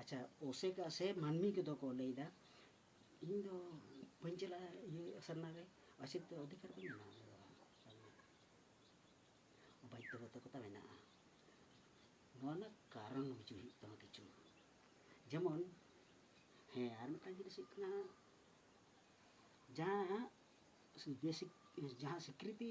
ᱟᱪᱪᱷᱟ ᱚᱥᱮᱠᱟ ᱥᱮ ᱢᱟᱹᱱᱢᱤ ᱠᱚᱫᱚ ᱠᱚ ᱞᱟᱹᱭᱫᱟ ᱤᱧ ᱫᱚ ᱵᱟᱹᱧ ᱪᱟᱞᱟᱜᱼᱟ ᱤᱭᱟᱹ ᱥᱟᱨᱱᱟ ᱨᱮ ᱟᱥᱤᱛ ᱫᱚ ᱚᱫᱷᱤᱠᱟᱨ ᱵᱟᱹᱧ ᱧᱟᱢᱟ ᱵᱟᱫᱽᱫᱷᱚᱵᱟᱫᱷᱚᱠᱚᱛᱟ ᱢᱮᱱᱟᱜᱼᱟ ᱱᱚᱣᱟ ᱨᱮᱱᱟᱜ ᱠᱟᱨᱚᱱ ᱵᱩᱡᱷᱟᱹᱣ ᱦᱩᱭᱩᱜ ᱛᱟᱢᱟ ᱠᱤᱪᱷᱩ ᱡᱮᱢᱚᱱ ᱦᱮᱸ ᱟᱨ ᱢᱤᱫᱴᱟᱝ ᱡᱤᱱᱤᱥ ᱦᱩᱭᱩᱜ ᱠᱟᱱᱟ ᱡᱟᱦᱟᱸ ᱵᱮᱥᱤᱠ ᱡᱟᱦᱟᱸ ᱥᱤᱠᱨᱤᱛᱤ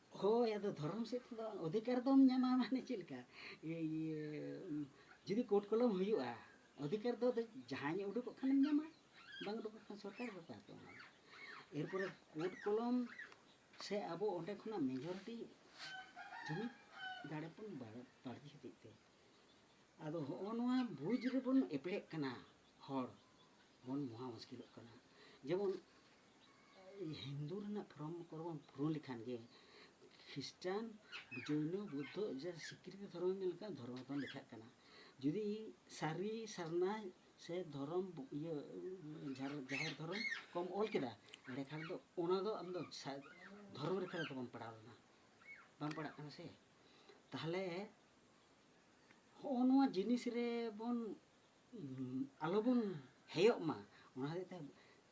ᱦᱳᱭ ᱟᱫᱚ ᱫᱷᱚᱨᱚᱢ ᱥᱮᱫ ᱛᱮᱫᱚ ᱚᱫᱷᱤᱠᱟᱨ ᱫᱚᱢ ᱧᱟᱢᱟ ᱢᱟᱱᱮ ᱪᱮᱫ ᱞᱮᱠᱟ ᱡᱩᱫᱤ ᱠᱳᱨᱴ ᱠᱚᱞᱚᱢ ᱦᱩᱭᱩᱜᱼᱟ ᱚᱫᱷᱤᱠᱟᱨ ᱫᱚ ᱡᱟᱦᱟᱸᱭ ᱩᱰᱩᱠᱚᱜ ᱠᱷᱟᱱᱮᱢ ᱧᱟᱢᱟ ᱵᱟᱝ ᱩᱰᱩᱠᱚᱜ ᱠᱷᱟᱱ ᱥᱚᱨᱠᱟᱨ ᱵᱟᱯᱟᱭ ᱛᱟᱢᱟ ᱮᱨᱯᱚᱨᱮ ᱠᱳᱨᱴ ᱠᱚᱞᱚᱢ ᱥᱮ ᱟᱵᱚ ᱚᱸᱰᱮ ᱠᱷᱚᱱᱟᱜ ᱢᱮᱡᱚᱨᱤᱴᱤ ᱡᱩᱢᱤᱫ ᱫᱟᱲᱮ ᱵᱚᱱ ᱵᱟᱹᱲᱛᱤ ᱦᱚᱛᱮᱡ ᱛᱮ ᱟᱫᱚ ᱦᱚᱜᱼᱚ ᱱᱚᱣᱟ ᱵᱩᱡᱽ ᱨᱮᱵᱚᱱ ᱮᱯᱮᱲᱮᱜ ᱠᱟᱱᱟ ᱦᱚᱲ ᱵᱚᱱ ᱢᱚᱦᱟ ᱢᱩᱥᱠᱤᱞᱚᱜ ᱠᱟᱱᱟ ᱡᱮᱢᱚᱱ ᱦᱤᱱᱫᱩ ᱨᱮᱱᱟᱜ ᱯᱷᱨᱚᱢ ᱠᱚᱨᱮ ᱵᱚᱱ ᱯᱩᱨᱟᱹᱣ ᱞᱮᱠᱷᱟᱱ ᱜᱮ ᱠᱷᱨᱤᱥᱴᱟᱱ ᱡᱳᱭᱱᱚ ᱵᱩᱫᱽᱫᱷᱚ ᱡᱟ ᱥᱤᱠᱨᱤᱛᱤ ᱫᱷᱚᱨᱚᱢ ᱢᱮᱱ ᱞᱮᱠᱷᱟᱱ ᱫᱷᱚᱨᱚᱢ ᱵᱚᱱ ᱞᱮᱠᱷᱟᱜ ᱠᱟᱱᱟ ᱡᱩᱫᱤ ᱥᱟᱹᱨᱤ ᱥᱟᱨᱱᱟ ᱥᱮ ᱫᱷᱚᱨᱚᱢ ᱤᱭᱟᱹ ᱡᱟᱦᱮᱨ ᱫᱷᱚᱨᱚᱢ ᱠᱚᱢ ᱚᱞ ᱠᱮᱫᱟ ᱮᱸᱰᱮᱠᱷᱟᱱ ᱫᱚ ᱚᱱᱟ ᱫᱚ ᱟᱢ ᱫᱚ ᱫᱷᱚᱨᱚᱢ ᱨᱮᱠᱷᱟ ᱨᱮᱫᱚ ᱵᱟᱢ ᱯᱟᱲᱟᱣ ᱞᱮᱱᱟ ᱵᱟᱢ ᱯᱟᱲᱟᱜ ᱠᱟᱱᱟ ᱥᱮ ᱛᱟᱦᱚᱞᱮ ᱦᱚᱸᱜᱼᱚ ᱱᱚᱣᱟ ᱡᱤᱱᱤᱥ ᱨᱮᱵᱚᱱ ᱟᱞᱚᱵᱚᱱ ᱦᱮᱭᱚᱜ ᱢᱟ ᱚᱱᱟ ᱦᱚᱛᱮᱡ ᱛᱮ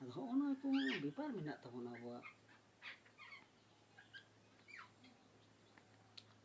ᱟᱫᱚ ᱦᱚᱸᱜᱼᱚ ᱱᱚᱣᱟ ᱠᱚ ᱵᱮᱯᱟᱨ ᱢᱮᱱᱟᱜ ᱛᱟᱵᱚᱱᱟ ᱟᱵᱚᱣᱟᱜ